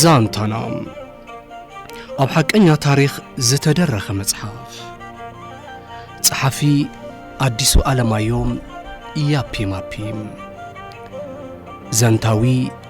ዛንታና ኣብ ሓቀኛ ታሪኽ ዝተደረኸ መጽሓፍ ጸሓፊ ኣዲሱ ኣለማዮም ያፒማፒም ዘንታዊ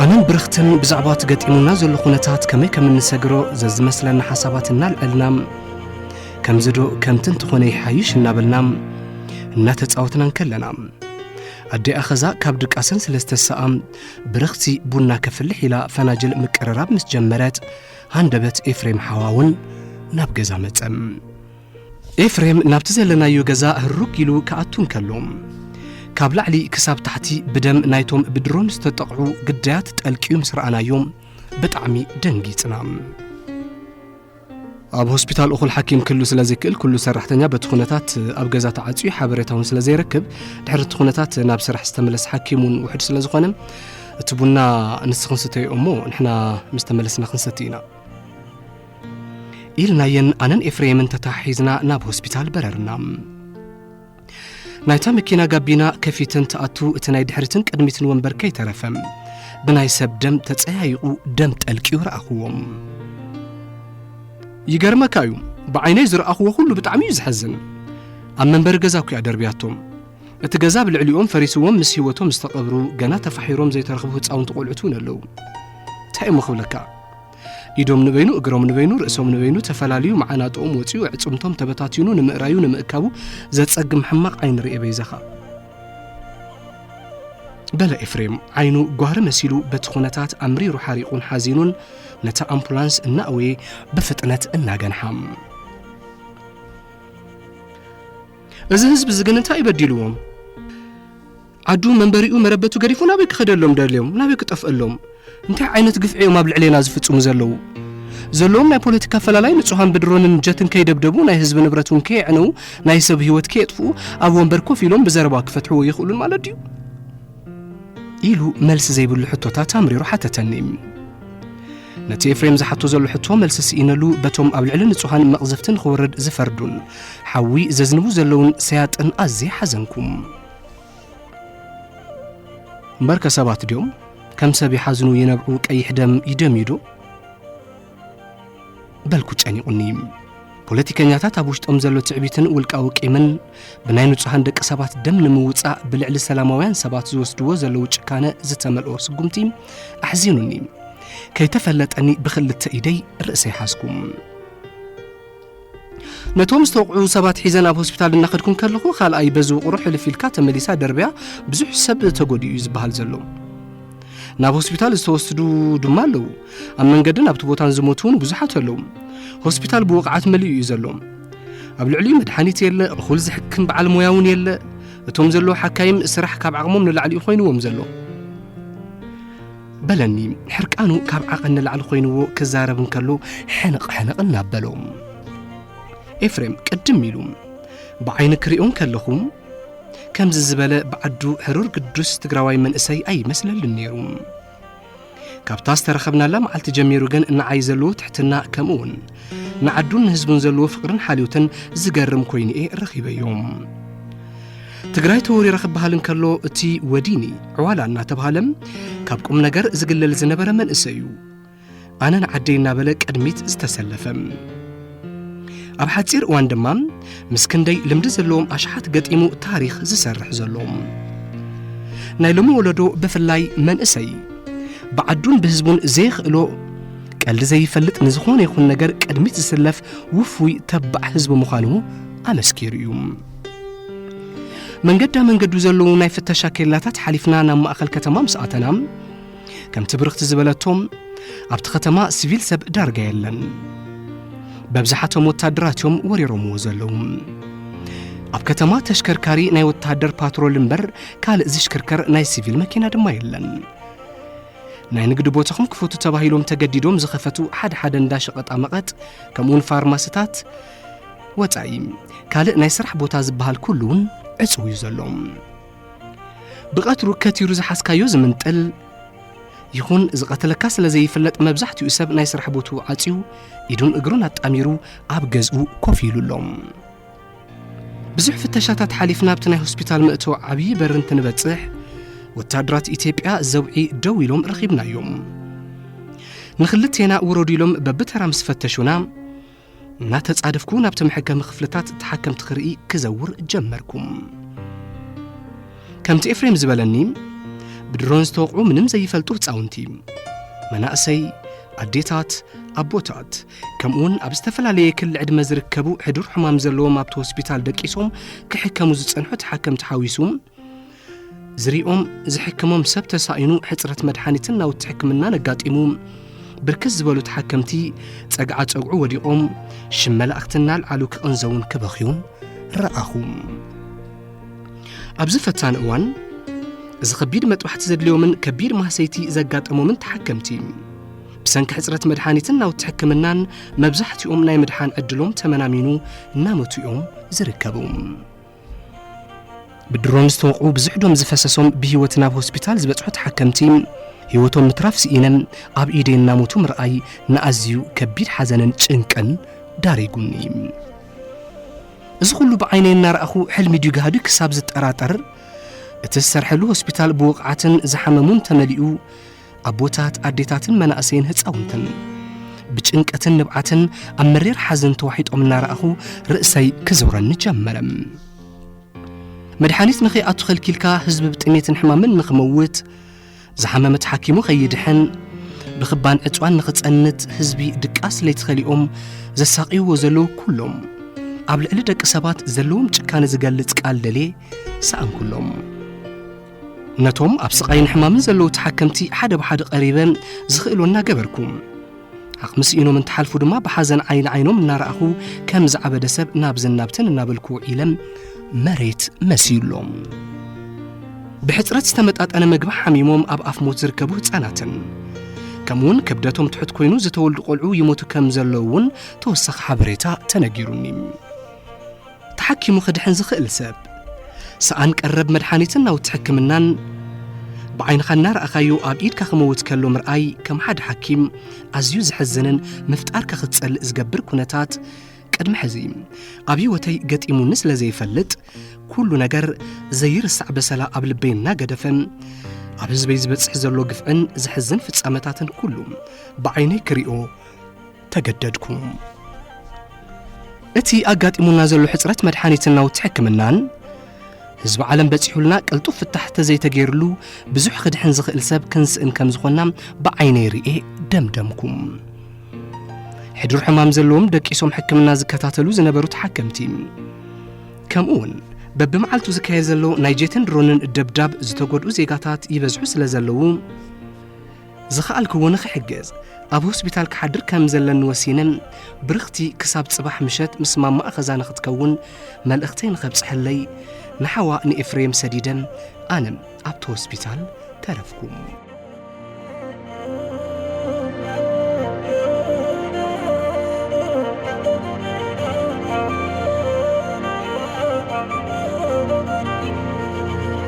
ኣነን ብርኽትን ብዛዕባ እቲ ገጢሙና ዘሎ ኩነታት ከመይ ከም እንሰግሮ ዘዝመስለና ሓሳባት እናልዐልና ከምዚ ዶ ከምቲ እንተኾነ ይሓይሽ እናበልና እናተጻወትና እንከለና ኣዴኣ ኸዛ ካብ ድቃሰን ስለ ዝተሰኣ ብርኽቲ ቡና ከፍልሕ ኢላ ፈናጅል ምቅርራብ ምስ ጀመረት ሃንደበት ኤፍሬም ሓዋውን ናብ ገዛ መጸም ኤፍሬም ናብቲ ዘለናዮ ገዛ ህሩግ ኢሉ ክኣቱ እንከሎ ካብ ላዕሊ ክሳብ ታሕቲ ብደም ናይቶም ብድሮን ዝተጠቕዑ ግዳያት ጠልቅዩ ምስ ረኣናዮ ብጣዕሚ ደንጊጽና ኣብ ሆስፒታል እኹል ሓኪም ክህሉ ስለ ዘይክእል ኩሉ ሰራሕተኛ በቲ ኩነታት ኣብ ገዛ ተዓፅዩ ሓበሬታ እውን ስለ ዘይረክብ ድሕሪ እቲ ኩነታት ናብ ስራሕ ዝተመለስ ሓኪም እውን ውሕድ ስለ ዝኾነ እቲ ቡና ንስ ክንስተዮ እሞ ንሕና ምስ ተመለስና ክንሰቲ ኢና ኢልናየን ኣነን ኤፍሬምን ተተሓሒዝና ናብ ሆስፒታል በረርና። ናይታ መኪና ጋቢና ከፊተን ትኣቱ እቲ ናይ ድሕሪትን ቅድሚትን ወንበር ከይተረፈ ብናይ ሰብ ደም ተጸያይቑ ደም ጠልቂዩ ረኣኽዎም ይገርመካ እዩ ብዓይነይ ዝረኣኽዎ ኩሉ ብጣዕሚ እዩ ዝሐዝን ኣብ መንበሪ ገዛ ኩያ ደርብያቶም እቲ ገዛ ብ ልዕሊኦም ፈሪስዎም ምስ ህይወቶም ዝተቐብሩ ገና ተፋሒሮም ዘይተረኽቡ ህፃውንቲ ቆልዑት እውን ኣለዉ እንታይ እሞ ክብለካ ኢዶም ንበይኑ እግሮም ንበይኑ ርእሶም ንበይኑ ተፈላልዩ መዓናጥኦም ወፂኡ ዕፅምቶም ተበታቲኑ ንምእራዩ ንምእካቡ ዘፀግም ሕማቕ ዓይኒ ርኤ በይዛኻ በለ ኤፍሬም ዓይኑ ጓህሪ መሲሉ በቲ ኩነታት ኣምሪሩ ሓሪቑን ሓዚኑን ነታ ኣምፑላንስ እናእወየ ብፍጥነት እናገንሓም እዚ ህዝቢ እዚ ግን እንታይ በዲልዎም ዓዱ መንበሪኡ መረበቱ ገዲፉ ናበይ ክኸደሎም ደልዮም ናበይ ክጠፍአሎም እንታይ ዓይነት ግፍዒ እዮም ኣብ ልዕሌና ዝፍጽሙ ዘለዉ ዘለዎም ናይ ፖለቲካ ኣፈላላይ ንጹሃን ብድሮንን ጀትን ከይደብደቡ ናይ ህዝቢ ንብረት እውን ከየዕነዉ ናይ ሰብ ህይወት ከየጥፍኡ ኣብ ወንበር ኮፍ ኢሎም ብዘረባ ክፈትሕዎ ይኽእሉን ማለት ድዩ ኢሉ መልሲ ዘይብሉ ሕቶታት ኣምሪሩ ሓተተኒ ነቲ ኤፍሬም ዝሓቶ ዘሎ ሕቶ መልሲ ስኢነሉ በቶም ኣብ ልዕሊ ንጹሃን መቕዘፍቲ ንኽወርድ ዝፈርዱን ሓዊ ዘዝንቡ ዘለውን ሰያጥን ኣዝየ ሓዘንኩም እምበርከ ሰባት ድዮም ከም ሰብ ይሓዝኑ ይነብዑ ቀይሕ ደም ይደምዩዶ በልኩ ጨኒቑኒ ፖለቲከኛታት ኣብ ውሽጦም ዘሎ ትዕቢትን ውልቃዊ ቂምን ብናይ ንጹሃን ደቂ ሰባት ደም ንምውጻእ ብልዕሊ ሰላማውያን ሰባት ዝወስድዎ ዘለዉ ጭካነ ዝተመልኦ ስጉምቲ ኣሕዚኑኒ ከይተፈለጠኒ ብክልተ ኢደይ ርእሰይ ሓዝኩም ነቶም ዝተወቕዑ ሰባት ሒዘ ናብ ሆስፒታል እናኸድኩ እንከለኹ ካልኣይ በዚ ውቕሮ ሕልፍ ኢልካ ተመሊሳ ደርብያ ብዙሕ ሰብ ተጎዲኡ እዩ ዝበሃል ዘሎ ናብ ሆስፒታል ዝተወስዱ ድማ ኣለዉ ኣብ መንገድን ኣብቲ ቦታን ዝሞቱ እውን ብዙሓት ኣለዉ ሆስፒታል ብወቕዓት መሊኡ እዩ ዘሎ ኣብ ልዕሊኡ መድሓኒት የለ እኹል ዝሕክም በዓል ሞያ እውን የለ እቶም ዘለዉ ሓካይም ስራሕ ካብ ዓቕሞም ንላዕሊ እዩ ኮይንዎም ዘሎ በለኒ ሕርቃኑ ካብ ዓቐን ንላዕሊ ኮይንዎ ክዛረብ እንከሎ ሕንቕ ሕንቕ እናበሎ ኤፍሬም ቅድም ኢሉ ብዓይኒ ክሪኦ እንከለኹ ከምዚ ዝበለ ብዓዱ ሕሩር ግዱስ ትግራዋይ መንእሰይ ኣይመስለልን ነይሩ ካብታ ዝተረኸብናላ መዓልቲ ጀሚሩ ግን ንዓይ ዘለዎ ትሕትና ከምኡ እውን ንዓዱን ንህዝቡን ዘለዎ ፍቕርን ሓልዮትን ዝገርም ኮይኑ'የ ረኺበዮ። ትግራይ ተወሪራ ክበሃል እንከሎ እቲ ወዲኒ ዕዋላ እናተብሃለ ካብ ቁም ነገር ዝግለል ዝነበረ መንእሰይ እዩ ኣነ ንዓደይ እናበለ ቅድሚት ዝተሰለፈ ኣብ ሓፂር እዋን ድማ ምስ ክንደይ ልምዲ ዘለዎም ኣሽሓት ገጢሙ ታሪክ ዝሰርሕ ዘሎ ናይ ሎሚ ወለዶ ብፍላይ መንእሰይ ብዓዱን ብህዝቡን ዘይኽእሎ ቀልዲ ዘይፈልጥ ንዝኾነ ይኹን ነገር ቅድሚት ዝስለፍ ውፉይ ተባዕ ህዝቢ ምዃኑ ኣመስኪሩ እዩ መንገዳ መንገዱ ዘለዉ ናይ ፍተሻ ኬላታት ሓሊፍና ናብ ማእኸል ከተማ ምስ ኣተና ከምቲ ብርኽቲ ዝበለቶም ኣብቲ ከተማ ሲቪል ሰብ ዳርጋ የለን በብዝሓቶም ወታደራት እዮም ወሪሮምዎ ዘለዉ ኣብ ከተማ ተሽከርካሪ ናይ ወታደር ፓትሮል እምበር ካልእ ዝሽክርከር ናይ ሲቪል መኪና ድማ የለን ናይ ንግዲ ቦታኹም ክፈቱ ተባሂሎም ተገዲዶም ዝኸፈቱ ሓደ ሓደ እንዳ ሸቐጣ መቐጥ ከምኡውን ፋርማስታት ወፃኢ ካልእ ናይ ስራሕ ቦታ ዝበሃል ኩሉ እውን ዕፅው እዩ ዘሎ ብቐትሩ ከቲሩ ዝሓዝካዮ ዝምንጥል ይኹን ዝቐተለካ ስለ ዘይፍለጥ መብዛሕትኡ ሰብ ናይ ስራሕ ቦትኡ ዓፅዩ ኢዱን እግሩን ኣጣሚሩ ኣብ ገዝኡ ኮፍ ኢሉ ኣሎ ብዙሕ ፍተሻታት ሓሊፍና ኣብቲ ናይ ሆስፒታል መእተዊ ዓብዪ በሪ እንትንበጽሕ ወታደራት ኢትዮጵያ ዘውዒ ደው ኢሎም ረኺብናዮም ንክልቴና ውረዱ ኢሎም በብተራ ምስ ፈተሹና እናተጻደፍኩ ናብቲ መሐከሚ ክፍልታት ተሓከምቲ ክርኢ ክዘውር ጀመርኩም ከምቲ ኤፍሬም ዝበለኒ ብድሮን ዝተወቕዑ ምንም ዘይፈልጡ ህፃውንቲ መናእሰይ ኣዴታት ኣቦታት ከምኡውን ኣብ ዝተፈላለየ ክሊ ዕድመ ዝርከቡ ሕዱር ሕማም ዘለዎም ኣብቲ ሆስፒታል ደቂሶም ክሕከሙ ዝጸንሑ ተሓከምቲ ሓዊሱ ዝሪኦም ዝሕክሞም ሰብ ተሳኢኑ ሕፅረት መድሓኒትን ናውቲ ሕክምናን ኣጋጢሙ ብርክት ዝበሉ ተሓከምቲ ጸግዓ ጸግዑ ወዲቖም ሽም መላእኽቲ እናልዓሉ ክቕንዘውን ክበኽዩን ረኣኹ ኣብዚ ፈታኒ እዋን እዚ ከቢድ መጥባሕቲ ዘድልዮምን ከቢድ ማህሰይቲ ዘጋጠሞምን ተሓከምቲ ብሰንኪ ሕጽረት መድሓኒትን ናውቲ ሕክምናን መብዛሕትኦም ናይ ምድሓን ዕድሎም ተመናሚኑ እናመቱ እዮም ዝርከቡ። ብድሮን ዝተወቕዑ ብዙሕ ዶም ዝፈሰሶም ብህይወት ናብ ሆስፒታል ዝበጽሑ ተሓከምቲ ህይወቶም ምትራፍ ስኢነም ኣብ ኢደይ እናሞቱ ምርኣይ ንኣዝዩ ከቢድ ሓዘንን ጭንቅን ዳሪጉኒ እዚ ኩሉ ብዓይነይ እናረኣኹ ሕልሚ ድዩ ጋህዱ ክሳብ ዝጠራጠር እቲ ዝሰርሐሉ ሆስፒታል ብወቕዓትን ዝሓመሙን ተመሊኡ ኣቦታት፣ ኣዴታትን መናእሰይን ህፃውንትን ብጭንቀትን ንብዓትን ኣብ መሪር ሓዘን ተዋሒጦም እናረኣኹ ርእሰይ ክዞረኒ ጀመረ። መድሓኒት ንኸይኣቱ ኸልኪልካ ህዝቢ ብጥሜትን ሕማምን ንኽመውት ዝሓመመ ተሓኪሙ ኸይድሕን ብኽባን ዕፅዋን ንኽፀንት ህዝቢ ድቃስ ለይቲ ኸሊኦም ዘሳቅይዎ ዘለዉ ኩሎም ኣብ ልዕሊ ደቂ ሰባት ዘለዎም ጭካነ ዝገልፅ ቃል ደልየ ሰኣንኩሎም። ነቶም ኣብ ስቓይን ሕማምን ዘለዉ ተሓከምቲ ሓደ ብሓደ ቀሪበ ዝኽእሎ እናገበርኩ ዓቕሚ ስኢኖም እንትሓልፉ ድማ ብሓዘን ዓይኒ ዓይኖም እናረኣኹ ከም ዝዓበደ ሰብ ናብዝን ናብትን እናበልኩ ውዒለ መሬት መሲዩሎም ብሕፅረት ዝተመጣጠነ ምግቢ ሓሚሞም ኣብ ኣፍ ሞት ዝርከቡ ህፃናትን ከምኡውን ክብደቶም ትሑት ኮይኑ ዝተወልዱ ቆልዑ ይሞቱ ከም ዘለዉ እውን ተወሳኺ ሓበሬታ ተነጊሩኒ ተሓኪሙ ክድሕን ዝኽእል ሰብ፣ ሰኣን ቀረብ መድሓኒትን ናውቲ ሕክምናን ብዓይንኻ እናረኣኻዮ ኣብ ኢድካ ክመውት ከሎ ምርኣይ ከም ሓደ ሓኪም ኣዝዩ ዘሕዝንን ምፍጣርካ ክትጸልእ ዝገብር ኩነታት ቅድሚ ሕዚ ኣብ ህይወተይ ገጢሙኒ ስለ ዘይፈልጥ ኩሉ ነገር ዘይርሳዕ በሰላ ኣብ ልበይ እናገደፈ ኣብ ህዝበይ ዝበጽሕ ዘሎ ግፍዕን ዘሕዝን ፍጻመታትን ኩሉ ብዓይነይ ክሪኦ ተገደድኩ። እቲ ኣጋጢሙና ዘሎ ሕጽረት መድሓኒትን ናውቲ ሕክምናን ህዝቢ ዓለም በጺሑልና ቅልጡፍ ፍታሕ ተዘይተገይርሉ ብዙሕ ክድሕን ዝኽእል ሰብ ክንስእን ከም ዝኾንና ብዓይነይ ርኤ ደምደምኩም ሕዱር ሕማም ዘለዎም ደቂሶም ሕክምና ዝከታተሉ ዝነበሩ ተሓከምቲ ከምኡውን በብመዓልቱ ዝካየድ ዘሎ ናይ ጄትን ድሮንን ደብዳብ ዝተጎድኡ ዜጋታት ይበዝሑ ስለ ዘለዉ ዝኸኣልክዎ ንኽሕግዝ ኣብ ሆስፒታል ክሓድር ከም ዘለኒ ወሲነ ብርኽቲ ክሳብ ጽባሕ ምሸት ምስ ማማኣ ኸዛ ንኽትከውን መልእኽተይ ንኸብጽሐለይ ንሓዋ ንኤፍሬም ሰዲደ ኣነ ኣብቲ ሆስፒታል ተረፍኩ።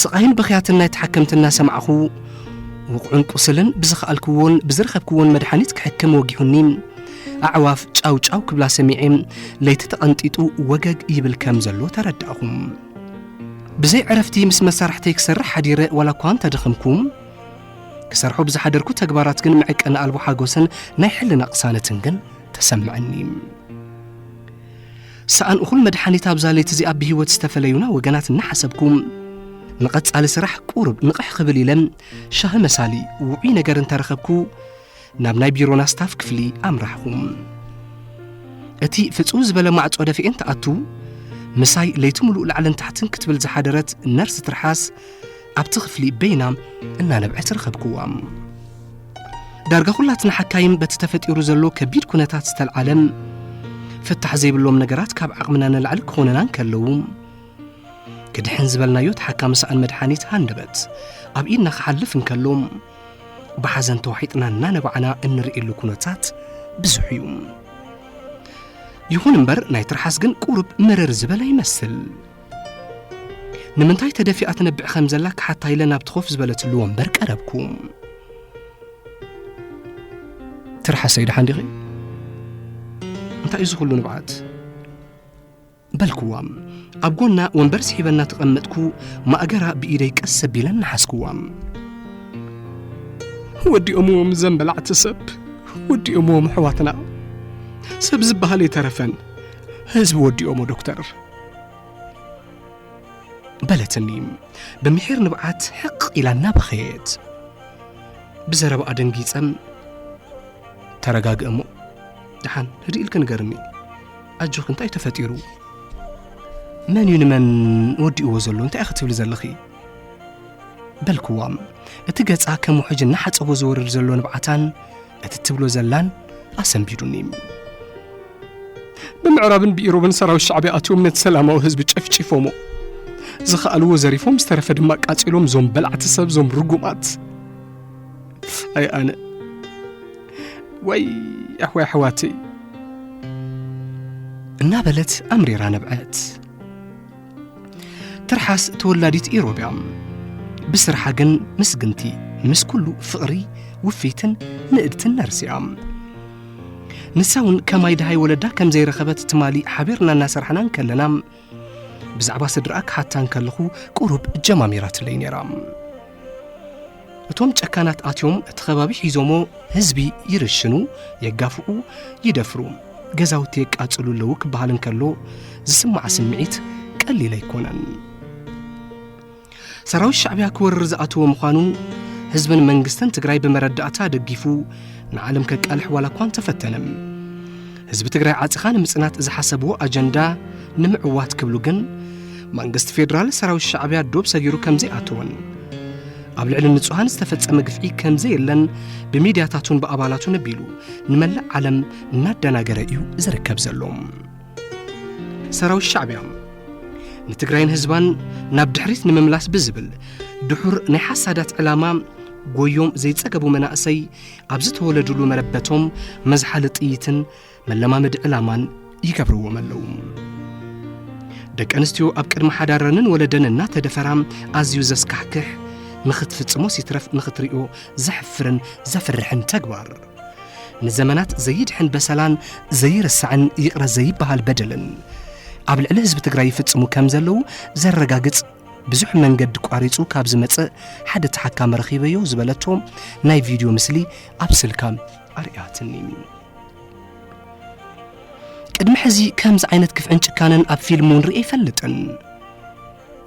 ስቓይን ብኽያትን ናይ ተሓከምቲ እናሰማዕኹ፣ ውቕዑን ቁስልን ብዝኸኣልክዎን ብዝረኸብክዎን መድሓኒት ክሕክም ወጊሑኒ፣ ኣዕዋፍ ጫው ጫው ክብላ ሰሚዔ፣ ለይቲ ተቐንጢጡ ወገግ ይብል ከም ዘሎ ተረዳእኹ። ብዘይ ዕረፍቲ ምስ መሳርሕተይ ክሰርሕ ሓዲረ ዋላ እኳ እንተደኸምኩ፣ ክሰርሖ ብዝሓደርኩ ተግባራት ግን መዕቀኒ ኣልቦ ሓጎስን ናይ ሕልና ቅሳነትን ግን ተሰምዐኒ። ሰኣን እኹል መድሓኒት ኣብዛ ለይቲ እዚኣ ብህይወት ዝተፈለዩና ወገናት እናሓሰብኩ ንቐጻሊ ስራሕ ቁሩብ ንቕሕ ክብል ኢለ ሻሂ መሳሊ ውዑይ ነገር እንተረኸብኩ ናብ ናይ ቢሮና ስታፍ ክፍሊ ኣምራሕኹ እቲ ፍጹም ዝበለ ማዕጾ ደፊኤን ተኣቱ ምሳይ ለይቲ ምሉእ ላዕልን ታሕትን ክትብል ዝሓደረት ነርስ ትርሓስ ኣብቲ ክፍሊ በይና እናነብዐት ረኸብክዋም ዳርጋ ኩላትና ሓካይም በቲ ተፈጢሩ ዘሎ ከቢድ ኩነታት ዝተልዓለም ፍታሕ ዘይብሎም ነገራት ካብ ዓቕምና ንላዕሊ ክኾነና እንከለዉ ክድሕን ዝበልናዮ ተሓካሚ ሰኣን መድሓኒት ሃንደበት ኣብ ኢድና ክሓልፍ እንከሎ ብሓዘን ተዋሒጥና እናነባዕና እንርእየሉ ኩነታት ብዙሕ እዩ ይኹን እምበር ናይ ትርሓስ ግን ቁርብ መረር ዝበለ ይመስል ንምንታይ ተደፊኣ ትነብዕ ከም ዘላ ክሓታ ኢለ ናብቲ ኮፍ ዝበለትሉ ወንበር ቀረብኩ ትርሓሰይ ድሓን ዲኺ እንታይ እዩ ዝኽሉ ንብዓት በልክዋ ኣብ ጎና ወንበር ስሒበና ተቐመጥኩ ማእገራ ብኢደይ ቀስ ኣቢለን ንሓስክዋ ወዲኦምዎም ዘን በላዕቲ ሰብ ወዲኦምዎም ኣሕዋትና ሰብ ዝበሃል የተረፈን ህዝቢ ወዲኦሞ ዶክተር በለትኒ ብምሒር ንብዓት ሕቕ ኢላ እናበኸየት ብዘረባ ኣደንጊፀን ተረጋግእ እሞ ድሓን ህድእ ኢልክ ንገርኒ ኣጆኺ እንታይ እዩ ተፈጢሩ መን እዩ ንመን ወዲእዎ ዘሎ እንታይ ክትብሊ ዘለኺ በልክዋም እቲ ገጻ ከም ውሕጅ እናሓፀቦ ዝወርድ ዘሎ ንብዓታን እቲ ትብሎ ዘላን ኣሰንቢዱኒ ብምዕራብን ብኢሮብን ሰራዊት ሻዕብያ ኣትዮም ነቲ ሰላማዊ ህዝቢ ጨፍጪፎሞ ዝኸኣልዎ ዘሪፎም ዝተረፈ ድማ ቃፂሎም ዞም በላዕቲ ሰብ ዞም ርጉማት ኣይ ኣነ ወይ ኣሕወይ ኣሕዋተይ እናበለት ኣምሪራ ነብዐት ትርሓስ ተወላዲት ኢሮብ እያ ብስርሓ ግን ምስግንቲ ምስ ኩሉ ፍቕሪ ውፍይትን ንእድትን ነርሲ እያ ንሳ እውን ከማይ ድሃይ ወለዳ ከም ዘይረኸበት ትማሊ ሓቢርና እናሰራሕና እንከለና ብዛዕባ ስድራኣ ክሓታ እንከለኹ ቁሩብ ጀማሚራትለይ ነይራ እቶም ጨካናት ኣትዮም እቲ ከባቢ ሒዞሞ ህዝቢ ይርሽኑ፣ የጋፍዑ፣ ይደፍሩ፣ ገዛውቲ የቃጽሉ ኣለዉ ክበሃል እንከሎ ዝስማዕ ስምዒት ቀሊል ኣይኮነን። ሰራዊት ሻዕብያ ክወርር ዝኣተወ ምዃኑ ህዝብን መንግስትን ትግራይ ብመረዳእታ ደጊፉ ንዓለም ከቃልሕ ዋላ እኳ እንተፈተነ ህዝቢ ትግራይ ዓጽኻ ንምጽናት ዝሓሰብዎ ኣጀንዳ ንምዕዋት ክብሉ ግን መንግስቲ ፌዴራል ሰራዊት ሻዕብያ ዶብ ሰጊሩ ከም ዘይኣተወን ኣብ ልዕሊ ንጹሃን ዝተፈጸመ ግፍዒ ከም ዘየለን ብሚድያታቱን ብኣባላቱን ኣቢሉ ንመላእ ዓለም እናደናገረ እዩ ዝርከብ ዘሎ ሰራዊት ሻዕብያ ንትግራይን ህዝባን ናብ ድሕሪት ንምምላስ ብዝብል ድሑር ናይ ሓሳዳት ዕላማ ጎዮም ዘይጸገቡ መናእሰይ ኣብ ዝተወለዱሉ መረበቶም መዝሓሊ ጥይትን መለማመዲ ዕላማን ይገብርዎም ኣለዉ ደቂ ኣንስትዮ ኣብ ቅድሚ ሓዳረንን ወለደን እናተደፈራ ኣዝዩ ዘስካሕክሕ ንኽትፍጽሞ ሲትረፍ ንኽትሪኦ ዘሕፍርን ዘፍርሕን ተግባር ንዘመናት ዘይድሕን በሰላን ዘይርሳዕን ይቕረ ዘይበሃል በደልን ኣብ ልዕሊ ህዝቢ ትግራይ ይፍጽሙ ከም ዘለዉ ዘረጋግጽ ብዙሕ መንገዲ ቋሪጹ ካብ ዝመጽእ ሓደ ተሓካሚ ረኺበዮ ዝበለቶ ናይ ቪድዮ ምስሊ ኣብ ስልካ ኣርእያትኒ። ቅድሚ ሕዚ ከምዚ ዓይነት ክፍዕን ጭካነን ኣብ ፊልም እውን ርእየ ኣይፈልጥን።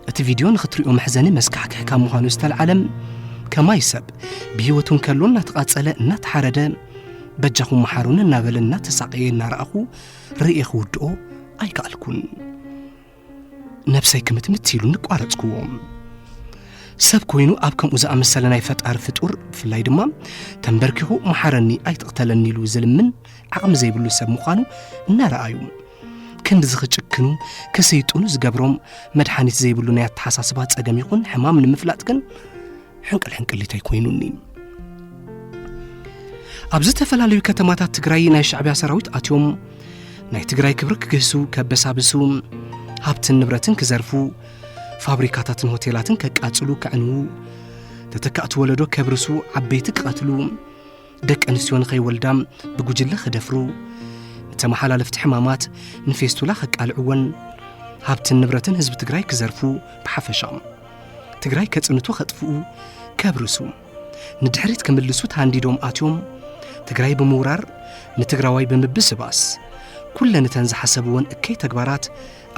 እቲ ቪድዮ ንኽትሪኦ መሕዘኒ መስካሕክሕ ካብ ምዃኑ ዝተልዓለ ከማይ ሰብ ብህይወቱ እንከሎ እናተቓጸለ እናተሓረደ በጃኹም መሓሩኒ እናበለ እናተሳቐየ እናረኣኹ ርእየ ክውድኦ ኣይከኣልኩን። ነብሰይ ክምትምት ኢሉ ንቋረጽክዎም ሰብ ኮይኑ ኣብ ከምኡ ዝኣመሰለ ናይ ፈጣሪ ፍጡር ብፍላይ ድማ ተንበርኪኹ መሓረኒ ኣይትቕተለኒ ኢሉ ዝልምን ዓቕሚ ዘይብሉ ሰብ ምዃኑ እናረኣዩ ክንድዚ ክጭክኑ ክስይጥኑ ዝገብሮም መድሓኒት ዘይብሉ ናይ ኣተሓሳስባ ጸገም ይኹን ሕማም ንምፍላጥ ግን ሕንቅል ሕንቅሊተይ ኮይኑኒ ኣብ ዝተፈላለዩ ከተማታት ትግራይ ናይ ሻዕብያ ሰራዊት ኣትዮም ናይ ትግራይ ክብሪ ክግህሱ ከበሳብሱ ሃብትን ንብረትን ክዘርፉ ፋብሪካታትን ሆቴላትን ከቃጽሉ ከዕንዉ ተተካእቲ ወለዶ ከብርሱ ዓበይቲ ክቐትሉ ደቂ ኣንስትዮ ንኸይወልዳ ብጉጅለ ክደፍሩ ንተመሓላለፍቲ ሕማማት ንፌስቱላ ከቃልዕወን ሃብትን ንብረትን ህዝቢ ትግራይ ክዘርፉ ብሓፈሻ ትግራይ ከጽንቱ ከጥፍኡ ከብርሱ ንድሕሪት ክምልሱ ተሃንዲዶም ኣትዮም ትግራይ ብምውራር ንትግራዋይ ብምብስባስ ኩለን እተን ዝሓሰብወን እከይ ተግባራት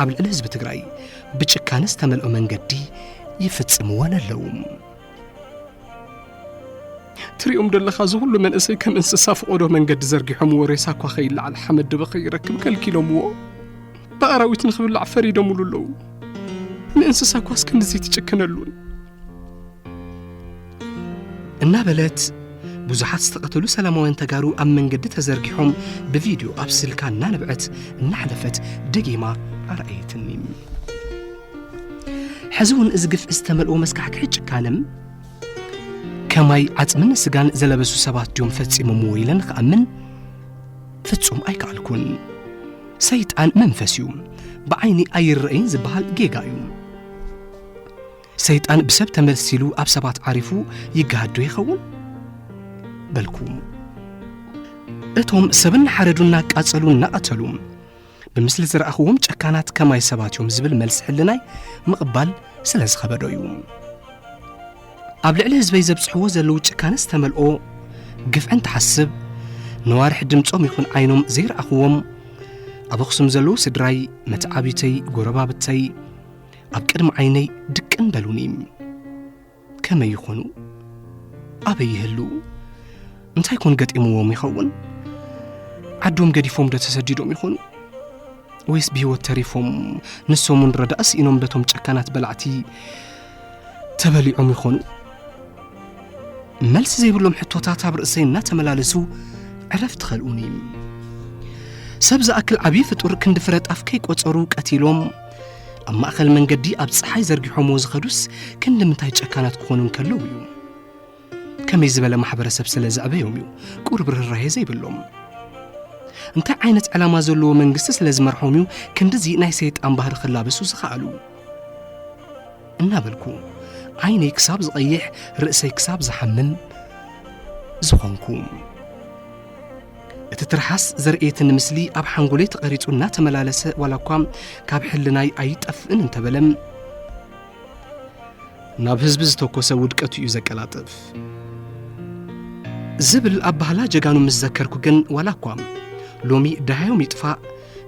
ኣብ ልዕሊ ህዝቢ ትግራይ ብጭካነ ዝተመልኦ መንገዲ ይፍጽምወን ኣለዉ። ትሪኦም ደለኻ እዚ ኹሉ መንእሰይ ከም እንስሳ ፍቖዶ መንገዲ ዘርጊሖምዎ ሬሳ እኳ ከይለዓል ሓመድ ድበ ከይረክብ ከልኪሎምዎ ብኣራዊት ንኽብላዕ ፈሪዶምሉ ኣለዉ ንእንስሳ እኳስ ከምዚ ትጭክነሉን እናበለት ብዙሓት ዝተቐተሉ ሰላማውያን ተጋሩ ኣብ መንገዲ ተዘርጊሖም ብቪድዮ ኣብ ስልካ እናንብዐት እናሕለፈት ደጊማ ኣርኣየትኒ ሕዚ እውን እዚ ግፍዒ ዝተመልኦ መስካሕክሒ ጭካነም ከማይ ዓፅምን ስጋን ዘለበሱ ሰባት ድዮም ፈፂሞምዎ ኢለ ንክኣምን ፍጹም ኣይከኣልኩን ሰይጣን መንፈስ እዩ ብዓይኒ ኣይረአይን ዝበሃል ጌጋ እዩ ሰይጣን ብሰብ ተመልሲሉ ኣብ ሰባት ዓሪፉ ይገሃዶ ይኸውን በልኩ እቶም ሰብ እናሓረዱ እናቃጸሉ እናቐተሉ ብምስሊ ዝረኣኽዎም ጨካናት ከማይ ሰባት እዮም ዝብል መልሲ ሕልናይ ምቕባል ስለ ዝኸበዶ እዩ ኣብ ልዕሊ ህዝበይ ዘብፅሕዎ ዘለዉ ጭካነ ዝተመልኦ ግፍዕን ትሓስብ ነዋርሕ ድምፆም ይኹን ዓይኖም ዘይረኣኽዎም ኣብ ኣኽሱም ዘለዉ ስድራይ መተዓቢተይ ጎረባብተይ ኣብ ቅድሚ ዓይነይ ድቅን በሉኒ ከመይ ይኾኑ? ኣበይ ይህልዉ? እንታይ ኮን ገጢምዎም ይኸውን? ዓዶም ገዲፎም ዶ ተሰዲዶም ይኾኑ? ወይስ ብህይወት ተሪፎም ንሶምን ረዳእ ስኢኖም በቶም ጨካናት በላዕቲ ተበሊዖም ይኾኑ? መልሲ ዘይብሎም ሕቶታት ኣብ ርእሰይ እናተመላለሱ ዕረፍቲ ኸልኡኒ። ሰብ ዝኣክል ዓብዪ ፍጡር ክንዲ ፍረ ጣፍ ከይቈጸሩ ቀቲሎም ኣብ ማእከል መንገዲ ኣብ ፀሓይ ዘርጊሖምዎ ዝኸዱስ ክንዲ ምንታይ ጨካናት ክኾኑ እንከለዉ እዩ ከመይ ዝበለ ማሕበረሰብ ስለ ዘዕበዮም እዩ ቁርብ ርህራሄ ዘይብሎም እንታይ ዓይነት ዕላማ ዘለዎ መንግስቲ ስለ ዝመርሖም እዩ ክንዲዚ ናይ ሰይጣን ባህሪ ክላበሱ ዝኸኣሉ እናበልኩ ዓይነይ ክሳብ ዝቐይሕ ርእሰይ ክሳብ ዝሓምም ዝኾንኩ እቲ ትርሓስ ዘርእየትን ምስሊ ኣብ ሓንጎለይ ተቐሪጹ እናተመላለሰ ዋላ እኳ ካብ ሕልናይ ኣይጠፍእን እንተበለም ናብ ህዝቢ ዝተኮሰ ውድቀቱ እዩ ዘቀላጥፍ ዝብል ኣብ ባህላ ጀጋኑ ምስ ዘከርኩ ግን ዋላ እኳ ሎሚ ደሃዮም ይጥፋእ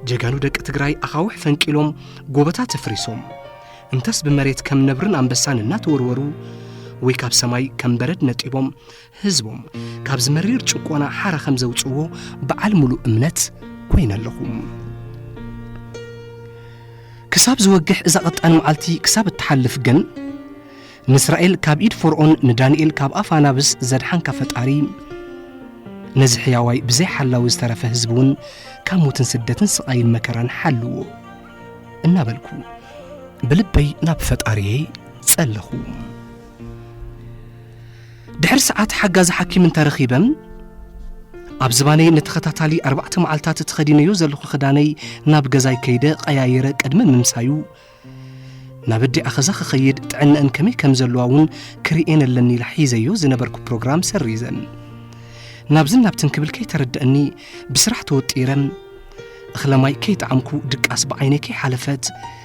ጀጋኑ ደቂ ትግራይ ኣኻውሕ ፈንቂሎም ጎበታት ኣፍሪሶም እንተስ ብመሬት ከም ነብርን ኣንበሳን እናተወርወሩ ወይ ካብ ሰማይ ከም በረድ ነጢቦም ህዝቦም ካብዚ መሪር ጭቆና ሓራ ከም ዘውፅዎ በዓል ሙሉእ እምነት ኮይነ ኣለኹ ክሳብ ዝወግሕ እዛ ቐጣን መዓልቲ ክሳብ እትሓልፍ ግን ንእስራኤል ካብ ኢድ ፈርኦን ንዳንኤል ካብ ኣፍ ኣናብስ ዘድሓንካ ፈጣሪ ነዚ ሕያዋይ ብዘይ ሓላዊ ዝተረፈ ህዝቢ እውን ካብ ሞትን ስደትን ስቓይን መከራን ሓልዎ እናበልኩ ብልበይ ናብ ፈጣሪየይ ጸለኹ ድሕሪ ሰዓት ሓጋዚ ሓኪም እንተ ረኺበ ኣብ ዝባነይ ንተኸታታሊ ኣርባዕተ መዓልታት እትኸዲነዮ ዘለኹ ክዳነይ ናብ ገዛይ ከይደ ቐያይረ ቅድሚ ምምሳዩ ናብ ኣዲኣ ኸዛ ክኸይድ ጥዕነአን ከመይ ከም ዘለዋ እውን ክርኤን ኣለኒ ኢላ ሒዘዮ ዝነበርኩ ፕሮግራም ሰሪዘ ናብዝን ናብትን ክብል ከይተረድአኒ ብስራሕ ተወጢረ እኽለማይ ከይጠዓምኩ ድቃስ ብዓይነይ ከይሓለፈት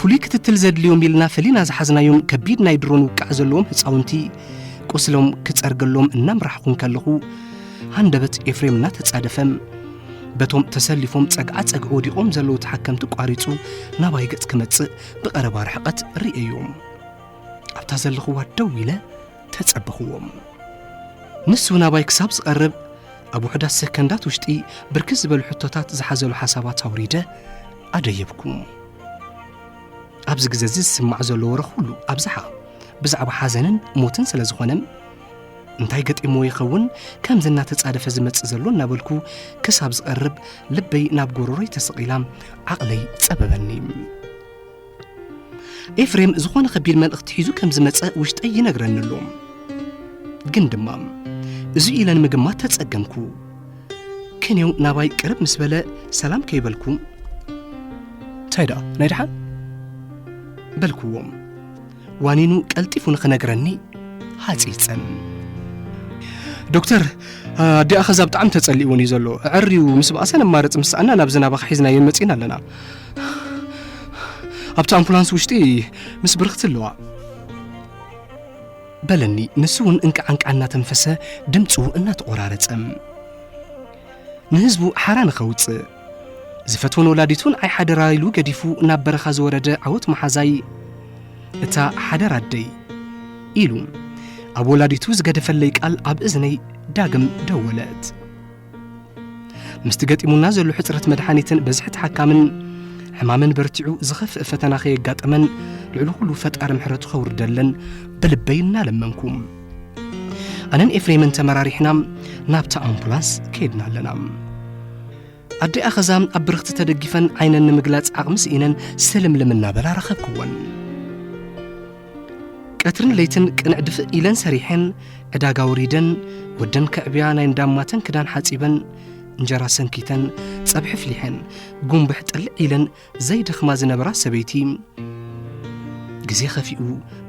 ፍሉይ ክትትል ዘድልዮም ኢልና ፈሊና ዝሓዝናዮም ከቢድ ናይ ድሮን ውቃዕ ዘለዎም ህፃውንቲ ቁስሎም ክፀርገሎም እናምራሕኹ እንከለኹ ሃንደበት ኤፍሬም እናተፃደፈም በቶም ተሰሊፎም ጸግዓ ጸግዒ ወዲቖም ዘለዉ ተሓከምቲ ቋሪጹ ናባይ ገጽ ክመጽእ ብቐረባ ርሕቐት ርእየዮም ኣብታ ዘለኽዋ ደው ኢለ ተጸበኽዎም። ንሱ ናባይ ክሳብ ዝቐርብ ኣብ ውሑዳት ሰከንዳት ውሽጢ ብርክት ዝበሉ ሕቶታት ዝሓዘሉ ሓሳባት ኣውሪደ ኣደየብኩ። ኣብዚ ግዜ እዚ ዝስማዕ ዘሎ ወረ ኩሉ ኣብዝሓ ብዛዕባ ሓዘንን ሞትን ስለ ዝኾነ እንታይ ገጢሞ ይኸውን ከምዚ እናተጻደፈ ዝመጽእ ዘሎ እናበልኩ ክሳብ ዝቐርብ ልበይ ናብ ጎረሮይ ተሰቒላ ዓቕለይ ጸበበኒ። ኤፍሬም ዝኾነ ከቢድ መልእኽቲ ሒዙ ከም ዝመጸ ውሽጠይ ይነግረኒ ኣሎ ግን ድማ እዚ ኢለ ንምግማት ተጸገምኩ ክንየው ናባይ ቅርብ ምስ በለ ሰላም ከይበልኩ እንታይ ደኣ ናይ ደሓን በልክዎም ዋኒኑ ቀልጢፉ ንኽነግረኒ ሃጺጸን ዶክተር ኣዲኣ ኸዛ ብጣዕሚ ተጸሊእዎን እዩ ዘሎ ዕርዩ ምስ በኣሰ ነማርጽ ምስ ሰኣና ናብ ዝናባኻ ሒዝናዮ መጺእና ኣለና ኣብቲ ኣምቡላንስ ውሽጢ ምስ ብርኽቲ ኣለዋ በለኒ ንሱ እውን እንቃዓንቃ እናተንፈሰ ድምፁ እናተቆራረጸ ንህዝቡ ሓራ ንኸውፅእ ዝፈትዎን ወላዲቱን ኣይ ሓደራ ኢሉ ገዲፉ ናብ በረኻ ዝወረደ ዓወት መሓዛይ እታ ሓደራ ኣደይ ኢሉ ኣብ ወላዲቱ ዝገደፈለይ ቃል ኣብ እዝነይ ዳግም ደወለት ምስቲ ገጢሙና ዘሎ ሕፅረት መድሓኒትን በዝሒ ተሓካምን ሕማመን በርቲዑ ዝኸፍእ ፈተና ከየጋጠመን ልዕሊ ኩሉ ፈጣሪ ምሕረቱ ከውርደለን ብልበይ እናለመንኩም ኣነን ኤፍሬምን ተመራሪሕና ናብታ ኣምቡላንስ ከይድና ኣለና ኣደ ኣኸዛ ኣብ ብርኽቲ ተደጊፈን ዓይነን ንምግላጽ ዓቕሚ ስኢነን ስልምልም እናበላ ረኸብክወን ቀትርን ለይትን ቅንዕ ድፍእ ኢለን ሰሪሐን ዕዳጋ ወሪደን ወደን ከዕብያ ናይ እንዳማተን ክዳን ሓጺበን እንጀራ ሰንኪተን ጸብሒ ፍሊሐን ጉንብሕ ጥልዕ ኢለን ዘይደኽማ ዝነበራ ሰበይቲ ግዜ ኸፊኡ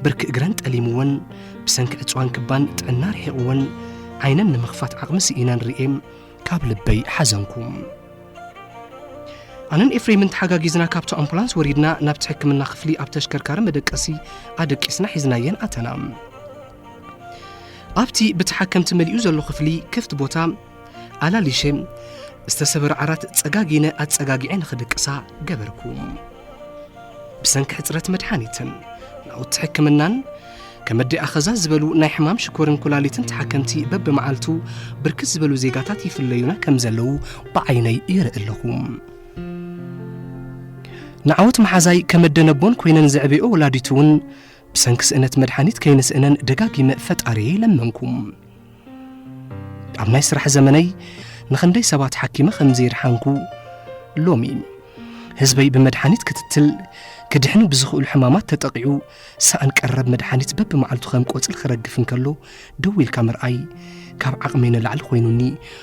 ብርኪ እግረን ጠሊምወን ብሰንኪ ዕፅዋን ክባን ጥዕና ርሒቕወን ዓይነን ንምኽፋት ዓቕሚ ስኢነን ርኤ ካብ ልበይ ሓዘንኩ ኣነን ኤፍሬምን ተሓጋጊዝና ካብቲ ኣምቡላንስ ወሪድና ናብቲ ሕክምና ክፍሊ ኣብ ተሽከርካሪ መደቀሲ ኣደቂስና ሒዝናየን ኣተና ኣብቲ ብተሓከምቲ መሊኡ ዘሎ ክፍሊ ክፍቲ ቦታ ኣላሊሸ ዝተሰበረ ዓራት ጸጋጊነ ኣጸጋጊዐ ንኽድቅሳ ገበርኩ ብሰንኪ ሕፅረት መድሓኒትን ናውቲ ሕክምናን ከም ኣዲ ኣኸዛ ዝበሉ ናይ ሕማም ሽኮርን ኩላሊትን ተሓከምቲ በብመዓልቱ ብርክት ዝበሉ ዜጋታት ይፍለዩና ከም ዘለዉ ብዓይነይ ይርኢ ኣለኹ ንዓወት መሓዛይ ከም ኣደነቦን ኮይነን ዘዕበኦ ወላዲቱ እውን ብሰንኪ ስእነት መድሓኒት ከይንስእነን ደጋጊመ ፈጣሪየ ይለመንኩም ኣብ ናይ ስራሕ ዘመነይ ንኽንደይ ሰባት ሓኪመ ከም ዘይርሓንኩ ሎሚ ህዝበይ ብመድሓኒት ክትትል ክድሕኑ ብዝኽእሉ ሕማማት ተጠቒዑ ሰኣን ቀረብ መድሓኒት በብመዓልቱ ከም ቆፅሊ ክረግፍ እንከሎ ደው ኢልካ ምርኣይ ካብ ዓቕመይ ንላዕሊ ኮይኑኒ